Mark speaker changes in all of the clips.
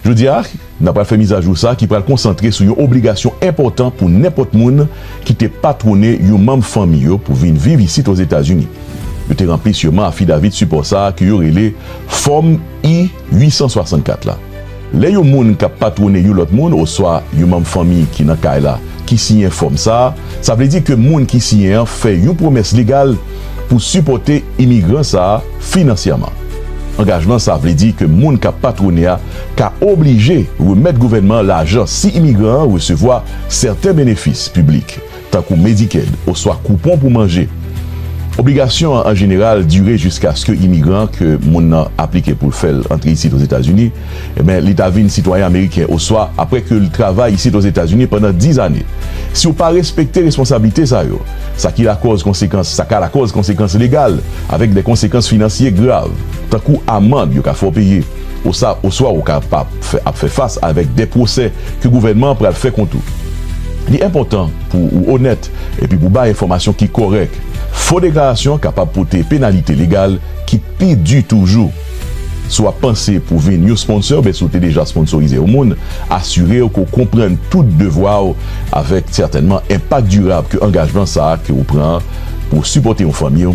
Speaker 1: Jodi a, n ap pral fè mizajou sa ki pral konsantre sou yon obligasyon enpòtan pou nenpòt moun ki te patwone yon manm fanmi yo pou vin viv isit Ozetazini. Yo te ranpli siyeman afidavit sipò sa ke yo rele Fòm I-864 la. Lè yon moun k ap patwone yon lòt moun oswa yon manm fanmi ki nan kay la ki siyen fòm sa, sa vle di ke moun ki siyen an fè yon pwomès legal pou sipòte imigran sa a finansyèman. Angajman sa a vle di ke moun k ap patwone a ka oblije remèt gouvènman an lajan si imigran an resevwa sèten benefis piblik, tankou Medicaid oswa koupon pou manje. Obligasyon an anjeneral dire jiskaske imigran an ke moun nan aplike pou l fè l antre isit Ozetazini ben li ta vin sitwayen ameriken oswa apre ke l travay isit Ozetazini pandan diz ane. Si w pa respekte responsablite sa yo, sa ki lakòz konsekans sa ka lakòz konsekans legal avèk de konsekans finansye grav, tankou amand yo ka fè w peye, osa oswa ou ka pa fè ap fè fas avèk de pwosè ke gouvènman an pral fè kont ou. Li enpòtan pou ou onèt epi pou bay enfòmasyon ki kòrèk. Fo deklarasyon kapab pote penalite legal ki pi di toujou. Si w ap panse pou vin yon sponsor oubyen si w te deja sponsorize yon moun, asire w ke w konprann tout devwa w avèk sètènman enpak dirab ke angajman sa a ke ou pran an pou w sipòte yon fanmi,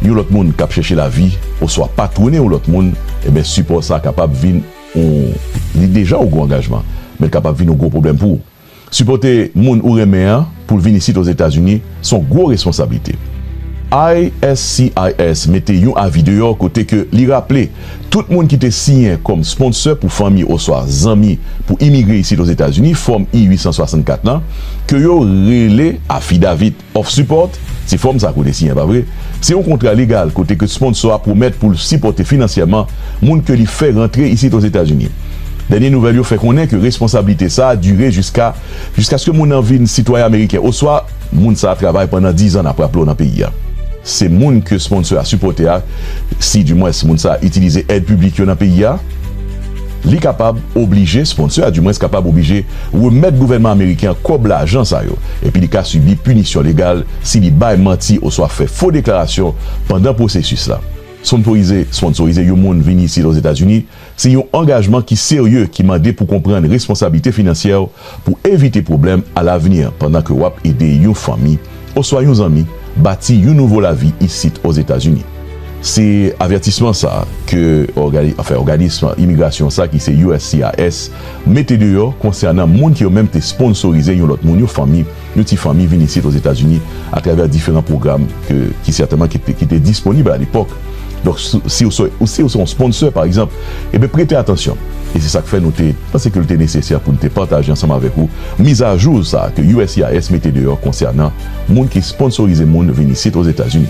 Speaker 1: yon lòt moun k ap chèche lavi, oswa patwone yon lòt moun, enben sipò sa a kapab vin yon, li deja yon gwo angajman, men l kapab vin yon gwo pwoblèm pou ou. Sipòte moun ou renmen an pou l vin isit Ozetazini s on gwo responsablite. ISCIS mete yon avi deyò kote ke li raple tout moun ki te siyen kòm sponsè pou fanmi oswa zanmi pou imigre isit Ozetazini Fòm I-864 lan, ke yo rele affidavit. Of Support, se fòm sa kote siyen pa vre, se yon kontra legal kote ke sponsò a pwomèt pou l sipòte finansyèman moun ke li fè rantre isit Ozetazini. Dènye nouvèl yo fè konnen ke responsablite sa a dire jiska jiskaske moun nan vin sitwayen ameriken oswa moun sa a travay pandan dizan apre aple w nan peyi a. Se moun ke sponsò a sipòte a, si di mwens moun sa a itilize èd piblik yo nan peyi a. Li kapab oblije sponsè a di mwens kapab oblije remèt gouvènman ameriken an kòb lajan sa yo, epi li ka sibi pinisyon legal si li bay manti oswa fè fo deklarasyon pandan pwosesis la. Sponporize, Sponsorize yon moun vini isit Ozetazini se yon angajman ki serye ki mande pou konprann responsablite finansyè w Pou evite pwoblèm alavni pandan ke wap ede yon fanmi oswa yon zanmi bati yon nouvo lavi isit Ozetazini. Se avètisman sa ke òganism imigrasyon sa ki se uscis mete deyò konsènan moun ke yo menm te sponsorize yon lòt moun, yon fanmi, Yon ti fanmi vin isit Ozetazini atravè diferan pwogram ke ki sètèman ki te ki te disponib a lepòk. Donk si si ou se si ou se yon sponsor pa egzanp, eben prete atansyon. E se sa k fè nou te panse ke l te nesesè pou n te pataje ansanm avèk ou mizajou sa a ke uscis mete deyò konsènan moun ki sponsorize moun vin isit Ozetazini.